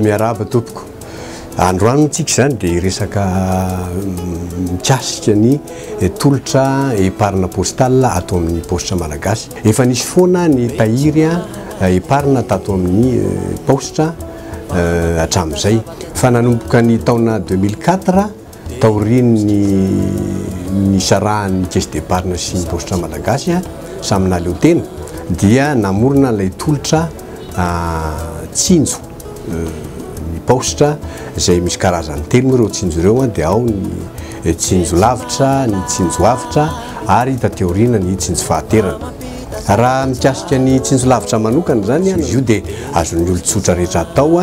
Miarahaba tompoko. Androany tsika izany dia resaka mm, mikasika ny eh, tolotra eparina postale ato amin'ny paositra malagasy. Efa nisy foana ny tahiry eh, eparina tato amin'ny eh, paositra hatramin'izay. Fa nanomboka ny taona 2004 Taorian'ny nisarahan'ny Caisse d'Epargne sy ny Paositra Malagasy samy nahaleo tena dia namorona ilay tolotra tsinjo ny Paositra izay misy karazany telo moa ireo tsinjo ireo dia ao ny tsinjo lavitra, ny tsinjo avotra ary taty aoriana ny tsinjo fahaterana. Raha mikasika ny tsinjo lavitra manokana izany, izy io dia azon'ny olon-tsotra rehetra atao.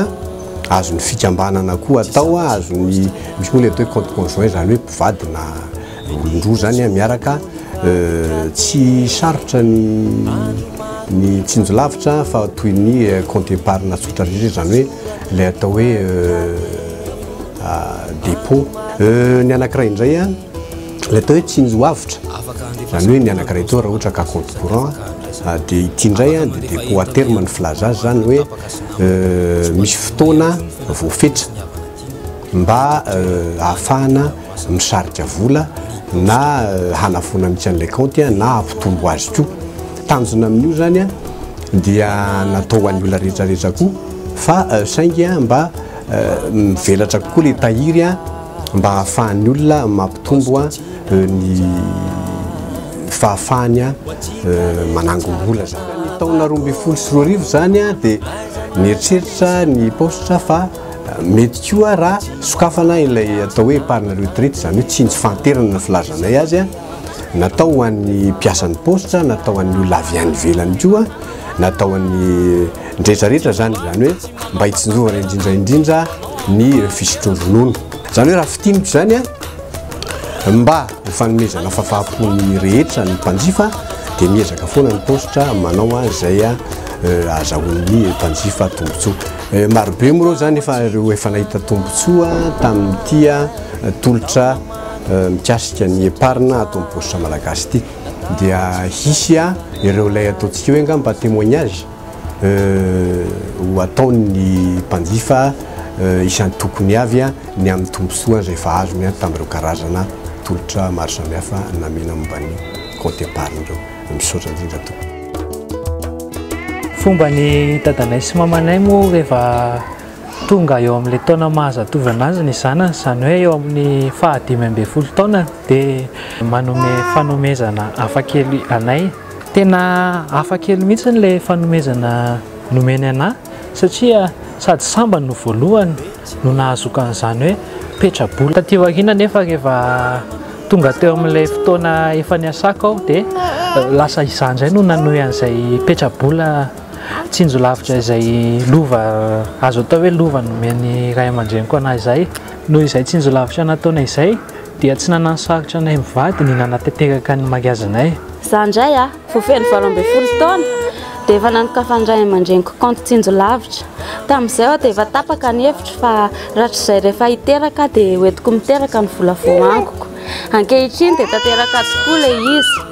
azon'ny fikambanana koa atao a, azon'ny, misy moa le atao hoe compte conjoint zany hoe mpivady na olon-droa zany a miaraka tsy sarotra ny ny tsinjo lavitra fa toy ny compte épargne tsotra rehetra zany hoe le atao hoe dépôt ny anakiray indray a le atao hoe tsinjo avotra zany hoe ny anakiray atao raha ohatra ka compte courant dia ity indray a dia dépôt à terme ny filaza azy zany hoe misy fotoana voafetra mba ahafahana misarika vola na hanafoana mihitsy an'ilay kaonty na hampitombo azy koa. Tanjona amin'io zany dia natao ho an'ny olona rehetra rehetra koa fa saingy mba mivelatra kokoa ilay tahiry. mba hahafahan'ny olona mampitombo ny fahafahany manangom-bola zany. Ny taona roa ambin'ny folo sy roa arivo izany dia nieritreritra ny paositra fa mety koa raha sokafana ilay atao hoe épargne retraite, izany hoe tsindry fahanterana ny filazanay azy, Natao ho an'ny mpiasan'ny paositra, natao ho an'ny olona avy any ivelany koa, natao ho an'ny rehetrarehetra izany, izany hoe mba hitsinjovana indrindra indrindra ny fisotroan-dronono. Izany hoe raha fintiniko izany a, mba ho fanomezana fahafaham-po ny rehetra ny mpanjifa dia miezaka foana ny paositra manao izay ahazahoan'ny mpanjifa tombontsoa. Marobe moa ireo izany efa ireo efa nahita tombontsoa tamin'ity tolotra. Mikasika ny epargne ato amin'ny paositra malagasy ity dia hisy ireo ilay ataontsika hoe angamba témoignage ho ataon'ny mpanjifa isan-tokony avy ny amin'ny tombontsoa izay efa azony tamin'ireo karazana tolotra maro samihafa namena momba ny kaonty epargne ireo. Misaotra indrindra tompoko. Fomba ny dadanay sy mamanay moa rehefa tonga eo amin'ilay taona maha-zatovo an'azy ny zanany, izany hoe eo amin'ny fahadimy ambin'ny folo taonany, dia manome fanomezana hafa kely anay. Tena hafa kely mihitsy ilay fanomezana nomeny anah, satria sady sambany no voalohany no nahazoako an'izany hoe petra-bola. Taty aoriana anefa rehefa tonga teo amin'ilay fotoana efa niasako aho dia lasa izaho indray no nanohy an'izay petra-bola. Tsinjo lavitra izay lova, azo atao hoe lova nomen'ny ray aman-dreniko anà izay. Noho izay tsinjo lavitra nataonay izay dia tsy nanasarotra anay mivady ny nanatanteraka ny mariazinay. Izaho indray, vao feno valo ambin'ny folo taona dia efa nanokafan'ny ray aman-dreniko kaonty tsinjo lavitra. Tamin'izay aho dia efa tapaka ny hevitro fa rahatrizay rehefa hiteraka aho dia hoentiko miteraka ny vola voaangoko. Ankehitriny dia tanteraka tokoa ilay izy.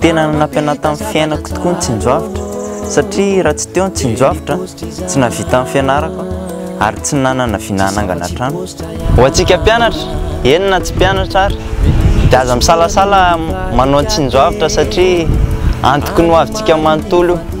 Tena nanampy anà tamin'ny fiainako tokoa ny tsinjoavitra, satria raha tsy teo ny tsinjoavitra, tsy nahavita ny fianarako ary tsy nanana vina hanangana trano. Ho antsika mpianatra, eny na tsy mpianatra ary, dia aza misalasala manao ny tsinjoavitra satria antoky ny ho avintsika manontolo io.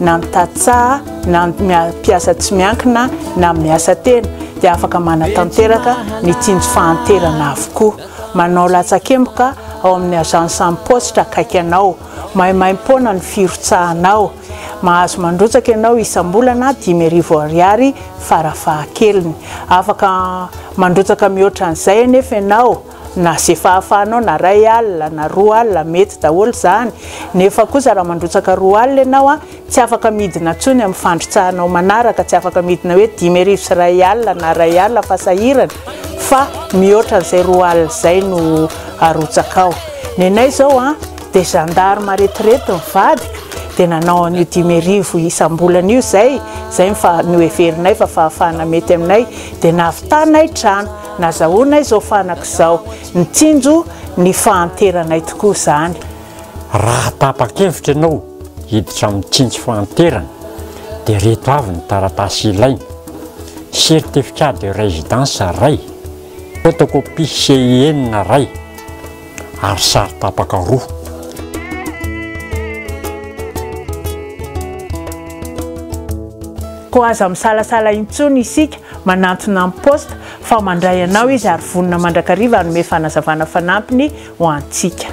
na ny tantsaha na ny mpiasa tsy miankina na amin'ny asa tena dia afaka manatanteraka ny tsinjo fahanterana avokoa. Manao latsakemboka ao amin'ny agence am poste akaiky anao. Maimaimpoana ny firotsahanao. Mahazo mandrotsaka ianao isam-bolana dimy arivo ariary farafahakeliny. Afaka mandrotsaka mihoatra an'izay anefa ianao. Na ze fahafahanao na ray alina na roa alina mety daholo zany, nefa kosa raha mandrotsaka roa alina ianao a, tsy afaka midina tsony amin'ny fandrotsahanao manaraka, tsy afaka midina hoe dimy arivo sy ray alina na ray alina fa sahirana fa mihoatra an'izay roa alina izay no arotsakao. Nenay zao a, dia gendarme aretirety ny vadiko dia nanao an'io dimy arivo isambolana io izay, izay ny fa noheverinay fa fahafahana mety aminay, dia navitanay trano. Nazahoanay izao fanaka izao. Nitsinjo ny fahanteranay tokoa izany. Raha tapa-kevitra ianao hiditra amin'ny tsindry fahanterana dia ireto avy ny taratasy ilaina, Certificat de résidence iray, Photocopie CIN iray, ary sary tapaka roa. Koa aza misalasala intsony isika manantona an'i Post fa mandray anao izy ary vonona mandrakariva hanome fanazavana fanampiny ho antsika.